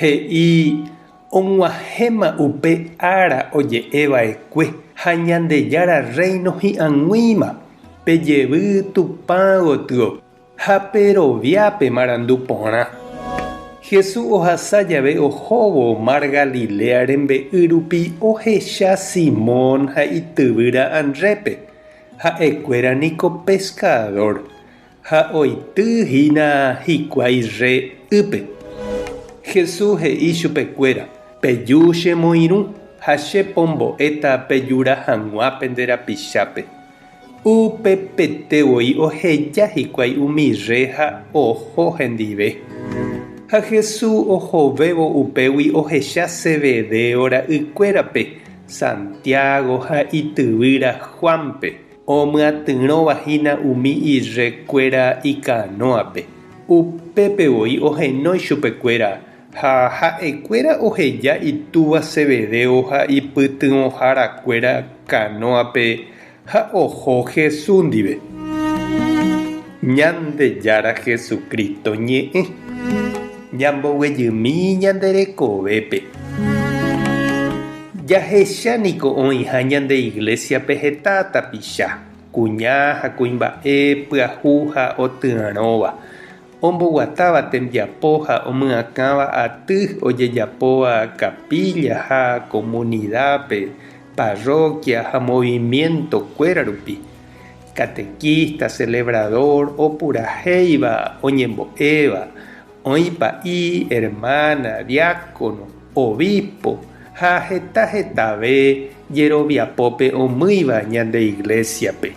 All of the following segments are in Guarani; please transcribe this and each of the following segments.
He'i og̃uahẽma upe ára oje'e va'ekue ha Ñandejára Rréino hi'ag̃uíma, pe jevy Tupã gotyo ha pe rovia pe marandu porã. Jesús ohasa jave ohóvo mar Galiléa rembe'y rupi ohecha Simón ha ityvýra Andrépe, ha'ekuéra niko peskadór. Ha oity hína hikuái rre ýpe. Jesús he'i chupekuéra, Peju che moirũ, ha che pombo'éta pejura hag̃ua pende rapichápe. Upepete voi oheja hikuái umi rre ha oho hendive. Ha Jesús ohovévo upégui ohecha Zebedeo ra'ykuérape, Santiago ha ityvýra Juánpe. Omyatyrõva hína umi irre kuéra ikanóape, upépe voi ohenói chupe kuéra, ha ha'e kuéra oheja itúva Zebedeo ha ipytyvõhára kuéra kanóape ha oho Jesús ndive. Ñandejára Jesucristo ñe'ẽ, ñamboguejymi ñande rekovépe. Jahecha niko oĩha ñande Iglésiape heta tapicha, kuña ha kuimba'e pyahu ha otyarõva, omboguatáva tembiapo ha omyakãva aty ojejapóva kapilla ha komunidápe, parroquia ha movimiento kuéra rupi. Catequista, celebrador, opurahéiva, oñembo'éva, oĩ pa'i, hermana, diácono, obispo ha heta hetave jeroviapópe omýiva ñande Iglésiape.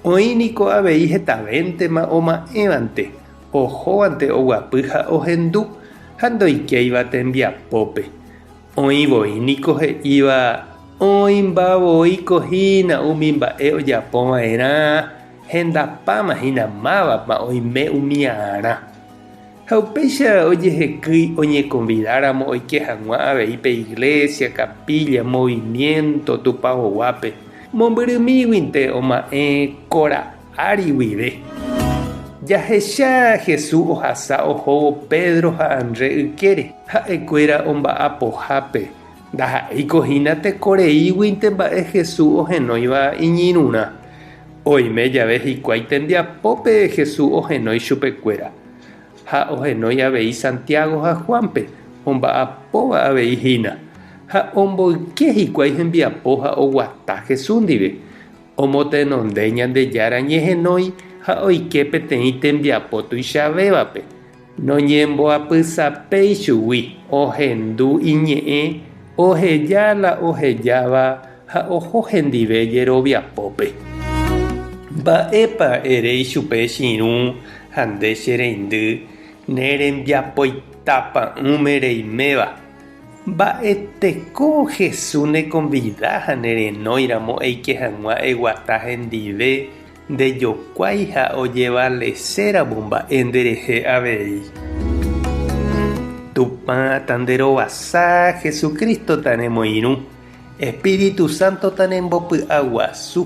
Oĩ niko avei hetavéntema oma'ẽvante, ohóvante oguapy ha ohendu ha ndoikéiva tembiapópe. Oĩ voi niko he'íva oĩmba voi ko hína umi mba'e ojapo va'erã hendapáma hína mávapa oime umi aarã. Ha upéicha ojehekýi oñekonvidáramo oike hag̃ua avei pe iglésia, kapílla, movimiénto Tupaoguápe, mombyrymíguinte oma'ẽ ko Ári guive, jahecha Jesús ohasa ohóvo Pedro ha Andrés ykére. Ha'ekuéra omba'apohápe, ndaha'éiko hína tekoreíguinte mba'e Jesús ohenóiva iñirũrã. Oime jave hikuái tembiapópe Jesús ohenói chupekuéra. Ha ohenói avei Santiago ha Juánpe, omba'apóva avei hína. Ha omboyke hikuái hembiapo ha oguata Jesús ndive. Omotenonde Ñandejára ñehenói ha oike peteĩ tembiapo tuichavévape, noñemboapysapéi chugui, ohendu iñe'ẽ, oheja la ohejáva ha oho hendive jeroviapópe. Mba'épa erei chupe chirũ ha nde che reindy, ne rembiapoita pa'ũme reiméva? Mba'eteko Jesús nekonvida ha nerenóiramo eike hag̃ua eguata hendive ndejokuái ha ojevaleséramo mba'e nderehe avei. Tupã tanderovasa, Jesucristo tanemoirũ, Espíritu Santo tanembopy'aguasu.